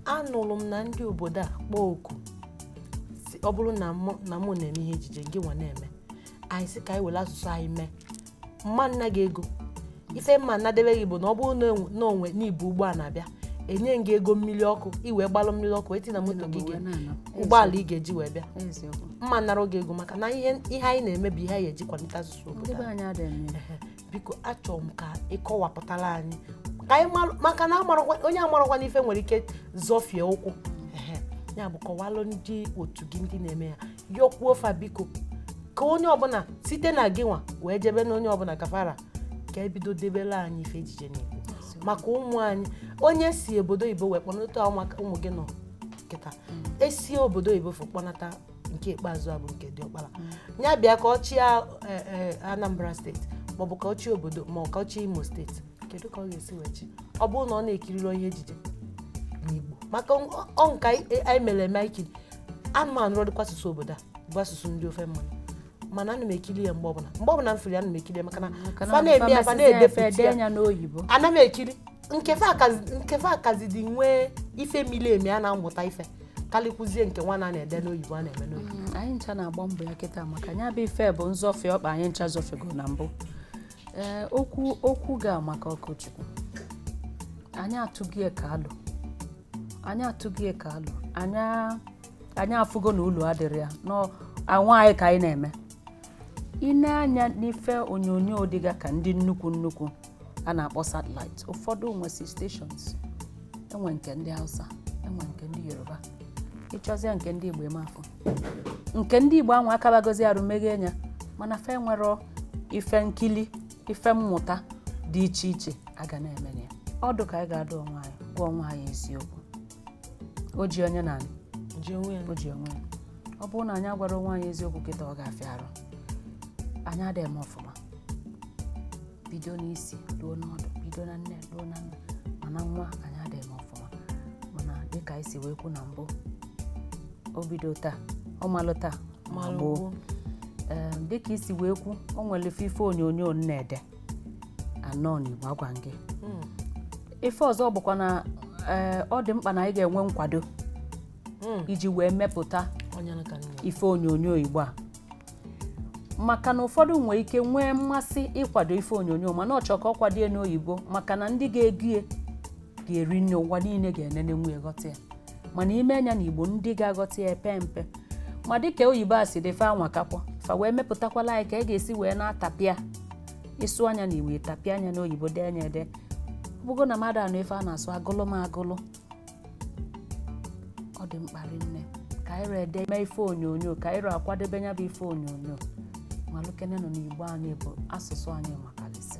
anụrụ m na ndị obodo a kpọọ oku sị ọ bụrụ na mụ na mụ na-eme ihe ejije gị nwa na-eme anyị sị ka anyị were asụsụ anyị mee m ma na gị ego ife m ma nadebe gị bụ na ọ bụrụ na o nwe na i bu ụgbọ a na-abịa e nye gị ego mmiri ọkụ i wee gbalụ mmiri ọkụ tinye na moto gị ụgbọala ị ga-eji wee bịa m ma nara gị ego maka na ihe anyị na-eme bụ ihe anyị ji akwalite asụsụ obodo biko achọrọ m ka ị kọwapụtara anyị ka anyị maka na onye amarọkwanụ ife nwere ike zọfie ụkwụ ya bụ kọwalụ ndị otu gị ndị na-eme ya yọkwuo fa biko ka onye ọbụla site na gị nwa wee jebe na onye ọbụla ka fa ra ka e bido debere anyị ife ejije n'igbo maka ụmụ anyị onye si obodo oyibo wee kpọnata ụmụaka ụmụ gị nọ kịta esi obodo oyibo fụ kpọnata nke ikpeazụ a bụ nke diọkpara ya bịa ka ọ chịa eh, eh, anambra steeti maọbụ ka ọ chịa obodo ma ka ọ chịa imo steeti kedu ka ọ ga-esi wee chịa ọ bụrụ na ọ na-ekirirọ ihe ejije n'igbo maka ọ- ọ nke anyị anyị mere eme anyị kiri ana m anụrọ dịka asụsụ obodo a bụ asụsụ ndị ofe mmanụ mana ana m ekiri ya mgbe ọbụla mgbe ọbụla m fụrụ ya ana m ekiri ya maka na Maka na fa na-eme ya fa fa mesizie fa na-edepụta dee ya anya n'oyibo ana m ekiri nkefe akazi- nke fa akazi dị nwee ife miri emi a na-amụta ife karịkwuzie nke nwa a na-ede n'oyibo a na-eme n'oyibo Mm, anyị ncha na-agba mbọ ya kịta maka ya bụ ife bụ nzọfe ọkpa anyị ncha zọfego na mbụ ee okwu okwu gị amaka Okechukwu anyị atụgo ya ka alụ anyị atụgo ya ka alụ anyị afụgo na ulu adịrọ ya na onwe anyị ka anyị na-eme i nee anya n'ife onyonyo dịga ka ndị nnukwu nnukwu a na-akpọ satellite ụfọdụ nwesi stations e nwee nke ndị hausa e nwee nke ndị yoruba ị chọzie nke ndị igbo ị ma afụ nke ndị igbo anwa akabagozi arụ meghee nya mana fa enwerọ ife nkili ife mmụta dị iche iche a ga na-eme ya ọdụ ka anyị ga-adụ onwe anyị gwa onwe anyị eziokwu o ji onye n'anị o ji onwe ya ọ bụrụ na anyị agwara onwe anyị eziokwu kịta ọ ga-afịa arụ anyị adịghị eme ọfụma bido n'isi ruo n'ọdụ bido na nne ruo na nna ma na nwa anyị adịghị eme ọfụma mana dịka anyị si wee kwu na mbụ o bido taa ọ malụ taa malụ gboo ee dịka i si wee kwu o nwere ofu ife onyonyo m na-ede anọ n'igbo agwa gị ife ọzọ bụkwa na ee, ọ dị mkpa na anyị ga-enwe nkwado iji wee mepụta ife onyonyo igbo a maka na ụfọdụ nwere ike nwee mmasị ịkwado ife onyonyo mana ọ chọọ ka ọ kwado ya n'oyibo maka na ndị ga-ego ya ga-eri nne ụwa niile ga-enenenwu ya ghọta ya mana i mee nya na igbo ndị ga-aghọta ya epe mpe ma dịka oyibo a si dị fa anwakakwa fa wee mepụtakwalụ anyị ka a ga-esi wee na-atapịa ị sụa nya na igbo ị tapịa nya na oyibo dee nya ede ọ bụgo na mmadụ anụ ife a na-asụ agụlụ m agụlụ ọ dị mkpa rinne ka anyị ee ede mee ife onyonyo ka anyị ee kwadebe nya bụ ife onyonyo malụkenenụ na igbo anyị bụ asụsụ anyị makalịsị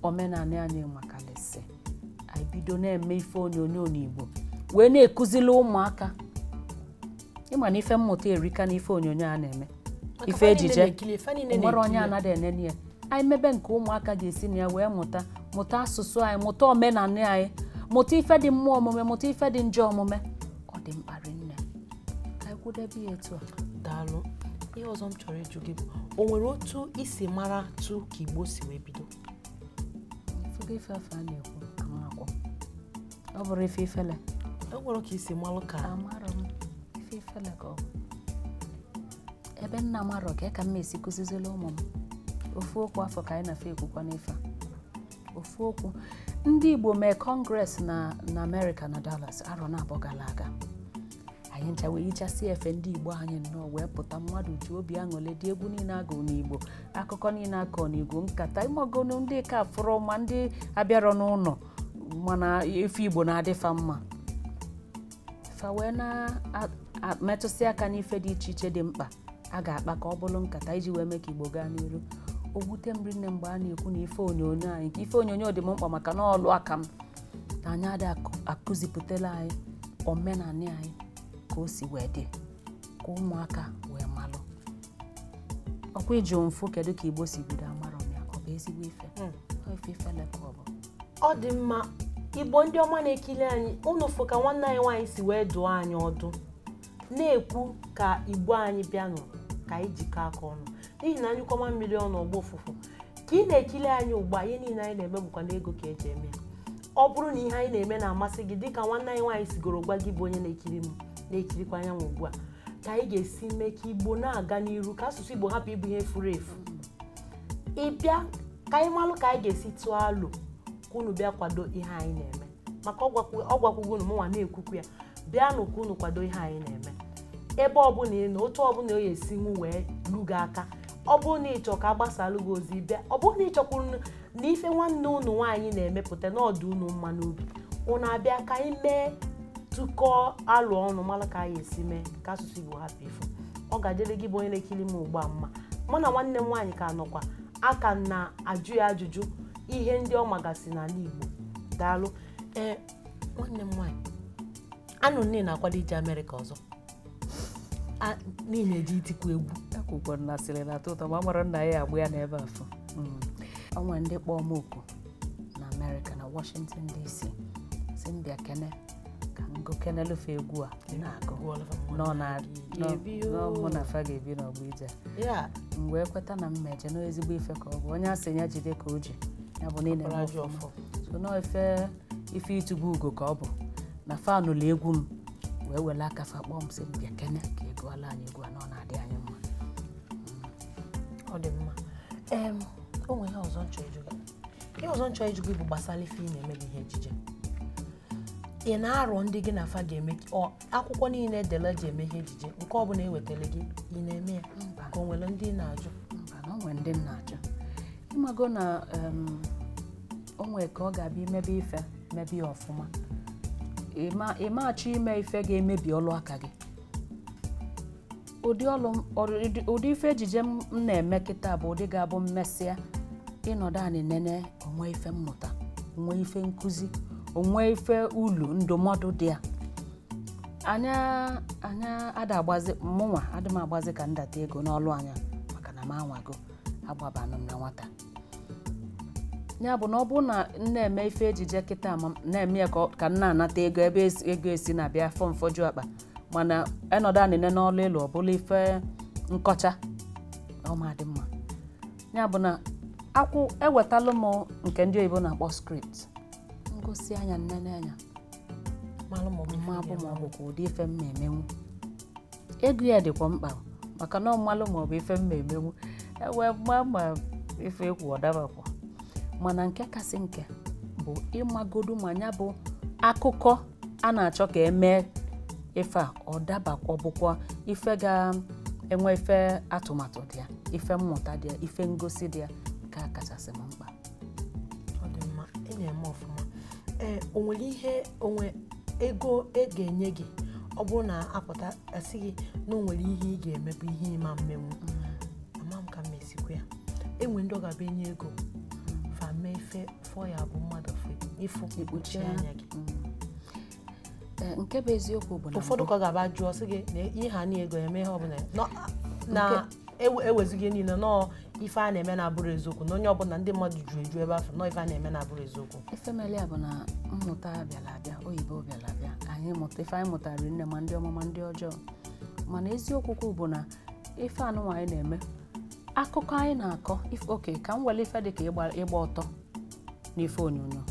omenala anyị makalịsị anyị bido na-eme ife onyonyo n'igbo wee na-ekuzili ụmụaka ị ma na ife mmụta erika na ife onyonyo a na-eme ife ejije e nwere onye anaghị enene ya anyị mebe nke ụmụaka ga-esi na ya wee mụta mụta asụsụ anyị mụta omenala anyị mụta ife dị mma omume mụta ife dị njọ omume ọ dị mkpa rinne ka anyị kwụdebe ya etu a daalụ ihe ọzọ m chọrọ ịjụ gị bụ o nwere otu i si maratụ ka igbo si wee bido Ị fụgo ife afụ a na-ekwu amakwọ. Ọ bụrụ ife ifele. E nwere ka i si malụ ka Amarọ m ife ifele ka ọ bụ. Ebe m na-amarọ ka ka m ga-esi kụzizili ụmụ m. Ofu okwu afụ ka anyị na-afe ekwukwa n'ife a. Ofu okwu. Ndị Igbo mee congress na na Amerịka na Dallas arọ naabọ gara aga. anyị ncha wee yichasị efe ndị igbo anyị nnọọ wee pụta mmadụ ji obi aṅụlị dị egwu niile a gụụ n'igbo akụkọ niile a kọọ n'igbo nkata ị magonu ndị ka fụrụ ma ndị abịarọ n'ụlọ mana ife igbo na-adị fa mma fa wee na-emetụsị aka n'ife dị iche iche dị mkpa a ga-akpa ka ọ bụrụ nkata iji wee mee ka igbo gaa n'iru o wute m rinne mgbe a na-ekwu na ife onyonyo anyị nke ife onyonyo dị m mkpa maka na ọlụ aka m na anyị adị akụzipụtara anyị omenala anyị ka o si wee dị ka ụmụaka wee malụ ọ kwa ị jụ m fụ kedu ka igbo si bido amarọ m ya ọ bụ ezigbo ife ife ifele ka ọ bụ ọ dị mma igbo ndị ọma na-ekiri anyị unu fụ ka nwanne anyị nwaanyị si wee dụọ anyị ọdụ na-ekwu ka igbo anyị bịanụ ka anyị jikọ aka ọnụ n'ihi na a nyụkọọ mamịrị ọnụ ọ gbọọ ụfụfụ ka ị na-ekiri anyị ugbu a ihe niile anyị na-eme bụkwa na ego ka eji eme ya ọ bụrụ na ihe anyị na-eme na-amasị gị dịka nwanne anyị nwaanyị sigoro gwa gị bụ onye na-ekiri m na-ekirikwa anyanwụ ugbu a ka anyị ga-esi mee ka igbo na-aga n'iru ka asụsụ igbo hapụ ịbụ ihe furu efu ị bịa ka anyị malụ ka anyị ga-esi tụọ alo ka unu bịa kwado ihe anyị na-eme maka ọ gwakwu- ọ gwakwugo unu mụnwa na-ekwukwu ya bịanụ ka unu kwado ihe anyị na-eme ebe ọbụla ị nọ otu ọbụla ọ ga-esi nwu wee lu gị aka ọ bụrụ na ị chọ ka a gbasalụ gị ozi bịa ọ bụrụ na ị chọkwuru n- na ife nwanne unu nwaanyị na-emepụta na ọ dị unu mma n'obi unu abịa ka anyị mee tụkọọ alo ọnụ mara ka anyị esi mee ka asụsụ igbo hapụ ifu ọ ga-adịrị gị bụ onye na-ekiri m ugbu a mma mụ na nwanne m nwaanyị ka nọkwa aka na-ajụ ya ajụjụ ihe ndị ọ magasị n'ala Igbo daalụ ee nwanne m nwaanyị anụ m na ị na-akwado ije Amerịka ọzọ na ị na-eje itikwu egwu akụkọ na asịrị na-atọ ụtọ ma mara nna ya agba ya n'ebe afụ o nwe ndị kpọọ m oku na amerịka na washington dc sị m bịa kene ka m gụkenelụ fa egwu a na-agụ nọ na na ọ mụ na fa ga-ebi n'ọgbọ ije ya m wee kweta na mmeje na ezigbo ife ka ọ bụ onye a sị ya jide ka o ji ya bụ niile Ọkpara ji ọfọ. so nọ ife ife ịtụba ugo ka ọ bụ na fa nụlụ egwu m wee wele aka fa kpọọ m sị m bịa kene ka ị gụọlụ anyị egwu a na ọ na-adị anyị mma ọ dị mma em o nwere ihe ọzọ m chọ ịjụ gị bụ gbasara ife ị na-eme bụ ihe ejije ị na-arọ ndị gị na fa ga-eme ka- ọ, akwụkwọ niile e dele eji eme ihe ejije nke ọbụla ewetara gị ị na-eme ya ka o nwere ndị ị na-ajụ mba na o nwere ndị m na-ajụ ị mago na em, o nwere ka ọ ga-abịa i mebe ife mebe ya ọfụma Ịma- ị ma-achọ ime ife ga-emebi ọlụ aka gị ụdị ọlụ m- ọrụ- ụdị- ụdị ife ejije m m na-eme kịta bụ ụdị ga-abụ m mesịa ị nọdụ anị nene o nwee ife mmụta o nwee ife nkụzi o nwee ife ulu ndụmọdụ dị ya anya anya ada agbazi mụnwa adị m agbazi ka m data ego n'ọlụ anya maka na m anwago agbabanụ m na nwata ya bụ na ọ bụrụ na m na-eme ife ejije kịta ma m na-eme ya ka ọ- ka m na-anata ego ebe esi- ego esi na-abịa fọ m fọju akpa mana ị nọdụ anị nene ọlụ ị lụ ọ bụlụ ife nkọcha ọ ma-adị mma ya bụ na akwụ ewetalụ m nke ndị oyibo na-akpọ script m gụsịa ya m nene anya malụ ma ọ bụ ma ọ bụkwa ụdị ife m na-emenwu ego ya dịkwa mkpa maka na a malụ ma ọ bụ ife m na-emenwu e wee ma ma ife e kwu ọ dabakwa mana nke kasị nke bụ ịmagodu ma ya bụ akụkọ a na-achọ ka e mee ife a ọ daba ọ bụkwa ife ga-enwe ife atụmatụ dị ya ife mmụta dị ya ife ngosi dị ya nke a kachasị m mkpa ọ dị mma ị na-eme ọfụma ee o nwere ihe o nwee ego a ga-enye gị ọ bụrụ na a pụta sị gị na o nwere ihe ị ga-eme bụ ihe ị ma-emenwu ama m ka m esikwa ya e nwee ndị ọ ga-abụ e nye ego fa mee ife fọ ya bụ mmadụ fe ị fụ i kpuchie anya gị eh, nke bụ eziokwu bụ na ụfọdụ ka ọ ga-abụ a jụọ sị gị na ihe ha na ego eme ihe ọbụla na ewezughị e niile na ọọ ife a na-eme na-abụrọ eziokwu na onye ọbụla ndị mmadụ juru eju ebe afụ na ọọ ife a na-eme na-abụrọ eziokwu ife melu ya bụ na mmụta bịara abịa oyibo bịara abịa anyị mụta ife anyị mụtara nne ma ndị ọma ma ndị ọjọọ mana eziokwu bụ na ife anụnwa anyị na-eme akụkọ anyị na-akọ if- okay ka m were ife dị ka ịgba ịgba ọtọ n'ife onyonyo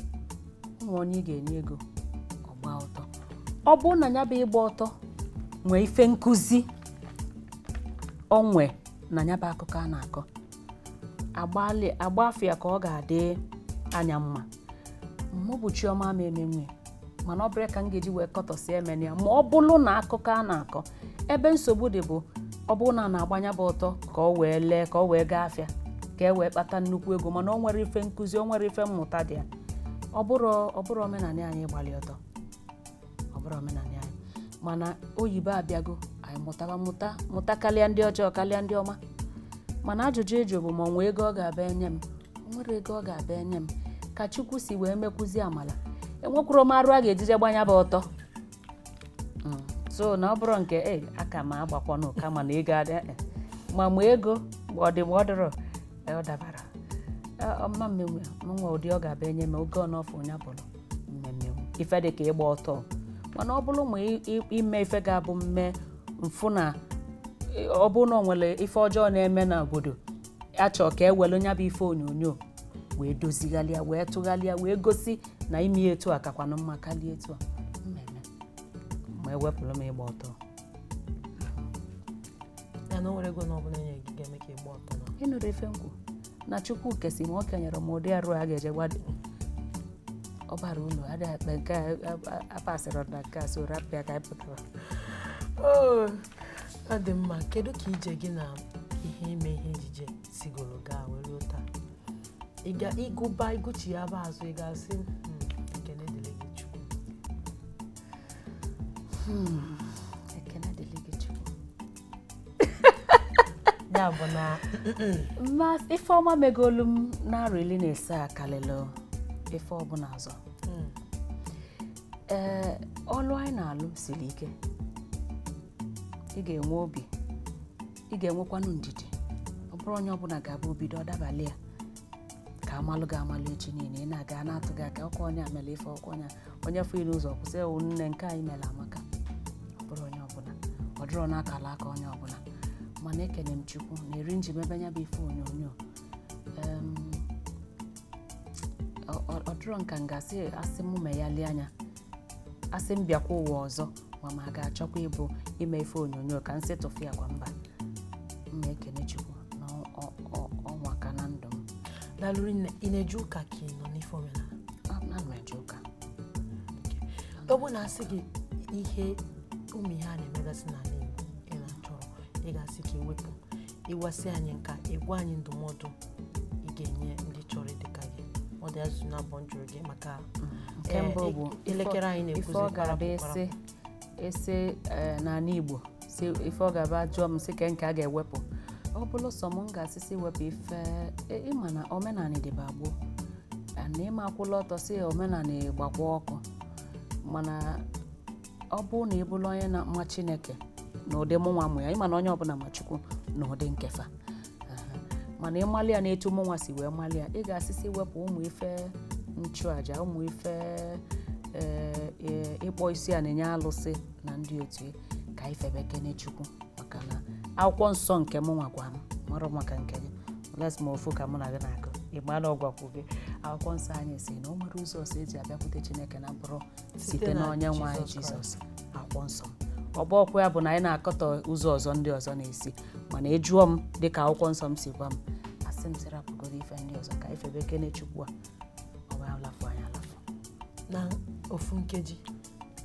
e nwee onye ị ga-enye ego ọ gbaa ọtọ ọ bụrụ na ya bụ ịgba ọtọ nwee ife nkụzi o nwe na ya bụ akụkọ a na-akọ agbalị agba afọ ya ka ọ ga-adị anya mma mụ bụ Chiọma ama emenwu ya mana ọ bụrọ ka m ga-eji wee kọtọsi emene ya ma ọ bụrụ na akụkọ a na-akọ ebe nsogbu dị bụ ọ bụrụ na a na-agba nya bụ ọtọ ka ọ wee lee ka ọ wee gaa afịa ka e wee kpata nnukwu ego mana o nwerọ ife nkụzi o nwerọ ife mmụta dị ya ọ bụrọ ọ bụrọ omenanị anyị ịgbalị ọtọ ọ bụrọ omenanị anyị mana oyibo abịago anyị mụtara mụta mụta karịa ndị ọjọọ karịa ndị ọma mana ajụjụ ị jụrụ bụ ma o nwee ego ọ ga-abụ e nye m o nwerọ ego ọ ga-abụ e nye m ka chukwu si wee mekwuzi amala enwekwurọ m arụ a ga-eji je gba nya bụ ọtọ Mm. so na ọ bụrọ nke e aka m agbakwanụ kama na ego adị eh, ma ma ego ma ọ dị ma ọ dịrọ eh, ọ dabarọ Eh, ọma m nwe m nwe ụdị ọ ga-abụ e nye m oge ọ n'ọfụ onye bụrụ m emee ife dị ka ịgba ọtọ mana ọ bụrụ ma ị- ị- ime ife ga-abụ m mee m fụ na ị- ọ bụrụ na ọ nwere ife ọjọọ na-eme na obodo a chọọ ka e were nya bụ ife onyonyo wee dozigharịa wee tụgharịa wee gosi na ime ya etu a kakwanụ mma karịa etu a m emee ma e wepụrụ m ịgba ọtọ ya na o nwerọ ego na ọbụla e nye gị ga-eme ka ị gba ọtọ na ị nụrụ ife m kwuru na chukwu kesịa m o kenyerọ m ụdị arụ a ga-eji gba ọtọ ọ bara unu adịghị akpa nke a a- a- apasịrị na nke a so rapụ ya ka anyị pụtara Oo, ọ dị mma kedu ka ije gị na ihe ime ihe ejije sigoro gaa wee ruo taa ị ga ịgụba ịgụchi ya bụ azụ ị ga-asị "Hmm, ekene dịrị gị chukwu ekene dịrị gị chukwu ya bụ na ife ọma megolu m n'arọ iri na ise a kalịlụ ife ọbụla ọzọ ee ọlụ anyị na-alụ siri ike ị ga-enwe obi ị ga-enwekwanụ ndidi ọ bụrọ onye ọbụla ga-abụ o bido ọ dabalị ya ka a malụ gị amalụ echi niile ị na-aga a na-atụ gị aka ọkwa onye a mere ife ọkwa onye a- onye fụ ị n'ụzọ kwụsị ewu nne nke anyị mere amaka ọ bụrọ onye ọbụla ọ dịrọ n'akala aka onye ọbụla mana ekene m chukwu na eri m ji mebe nya bụ ife onyonyo Em, ọ- ọ- ọ dịrọ nke m ga-asị asị m meghalị anya asị m bịakwa ụwa ọzọ ma m ga-achọkwa ịbụ ime ife onyonyo ka m sị tụfịakwa mba m na-ekene chukwu na ọ nwaka na ndụ m dalụ rinne ị na-eje ụka ka ị nọ n'ife omenala ana m eje ụka ọ bụ na a sị gị ihe ụmụ ihe a na-emegasị n'ala Igbo ị na-achọrọ ị ga-asị ka e wepụ ị gwasịa anyị nke a ị gwa anyị ndụmọdụ ị ga-enye ndị chọrọ ịdị ka gị ọ dị ajụjụ abụọ m jụrụ gị maka nke eh, mbụ bụ i- elekere anyị ife na-ekwuzi ọ ga-abụ kwarapụ ese ese eh, n'ala igbo si ife ọ ga-abụ a jụọ m sị kee nke a ga-ewepụ ọ bụrụ sọ m m ga-asị sị wepụ ife e- ị ma na omenala dịba gboo na ị ma akwụlụ ọtọ sị omenala gbakwa ọkụ mana ọ bụrụ na ị bụrụ onye na-ama Chineke n'ụdị mụnwa ma ya ị ma na onye ọbụla ma Chukwu n'ụdị nke fa mana ị malị ya n'etu mụnwa si wee malị ya ị ga-asị sị wepụ ụmụ ife nchụaja ụmụ ife eh, eh, ịkpọ isi ana enye alụsị na ndị otu ka e febekene Chukwu maka na akwụkwọ nsọ nke mụnwa gwa m marọ maka nke gị les ma ofu ka mụ na gị na-agụ ịgbala ọ gwakwu gị akwụkwọ nsọ anyị sị na o nwerọ ụzọ ọzọ e ji abịakwute Chineke na-abụrọ site na onye nwe anyị jizọs akwụkwọ nsọ m ọ bụrọkwa ya bụ na anyị na-akọtọ ụzọ ọzọ ndị ọzọ na-esi mana ị jụọ m dịka akwụkwọ nsọ m si gwa m asị m sị rapụgodu ife ndị ọzọ ka e febekene chukwu a ọ bụ alafụ anyị alafụ n'ofu nkeji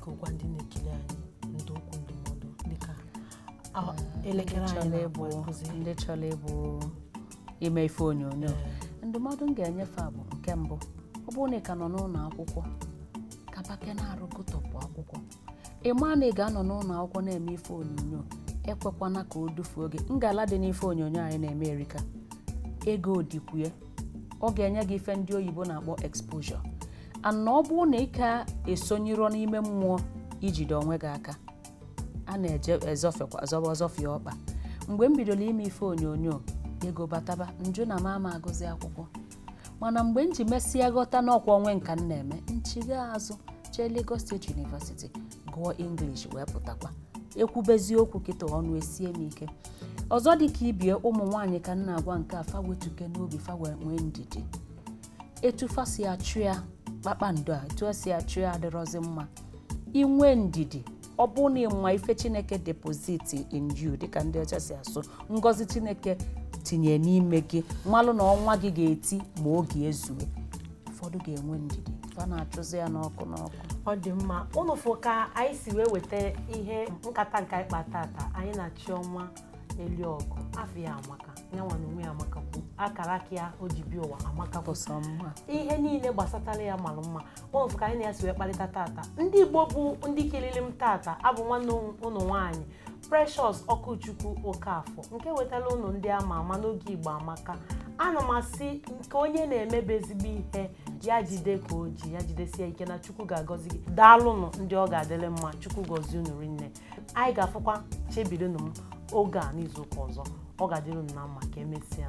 ka ị gwa ndị na-ekiri anyị ndị okwu ndụmọdụ dịka a- elekere anyị chọrọ na-agba ịbụ nkụzi ndị chọrọ ịbụ ime ife onyonyo ndụmọdụ m ga-enye fa bụ nke mbụ ọ bụrụ na ị ka nọ n'ụlọ akwụkwọ kaba ike n'arụ gụtọpụ akwụkwọ ị maa na ị ga-anọ n'ụlọ akwụkwọ na-eme ife onyonyo ekwekwana ka o dufuo gị ngala dị n'ife onyonyo anyị na-eme erika ego dịkwu ya ọ ga-enye gị ife ndị oyibo na-akpọ exposure and ọ bụrụ na ị ka esonyerọ n'ime mmụọ ijide onwe gị aka a na-eje ezọfekwa zọba ọzọfịa ọkpa mgbe m bidoro ime ife onyonyo ego bataba m jụ na m ama agụzi akwụkwọ mana mgbe m ji mesịa ghọta na ọ kwa onwe m ka m na-eme m chigha azụ jee Lagos State University gụọ English wee pụtakwa ekwubezi okwu kịta ọnụ esie m ike ọzọ dị ka ibe m ụmụ nwaanyị ka m na-agwa nke a fa wetukene obi fa wee nwee ndidi etu fa si achụ ya kpakpando a etu e si achụ ya adịrọzi mma inwe ndidi ọ bụ na ịma ife chineke deposit in you dịka ndị ọcha si asụ ngọzi chineke tinye n'ime gị malụ na ọnwa gị ga-eti ma oge ezue ụfọdụ ga-enwe ndidi fa na-achụzi ya n'ọkụ n'ọkụ ọ dị mma ụnụ fụ ka anyị si wee weta ihe nkata nke anyị kpa tata anyị na chiọma eliogu afa ya amaka nyanwa n'onwe ya amaka kwu akara aka ya o ji bịa ụwa amaka kwu bụ sọ mma ihe niile gbasatara ya mara mma ụnụ fụ ka anyị na ya si wee kparịta tata ndị igbo bụ ndị kilili m tata abụ m nwanne ụnụ nwaanyị precious okwuchukwu okafọ nke wetara ụnụ ndị ama ama n'oge igbo amaka ana m asị nke onye na-emebe ezigbo ihe ya jide ka o ji ya jidesie ike na chukwu ga-agọzi gị daalụnụ ndị ọ ga-adịrị mma chukwu gọzie unu rinne anyị ga-afụkwa chebirinụ m oge a n'izu ụka ọzọ ọ ga-adịrị unu na mma ka emesịa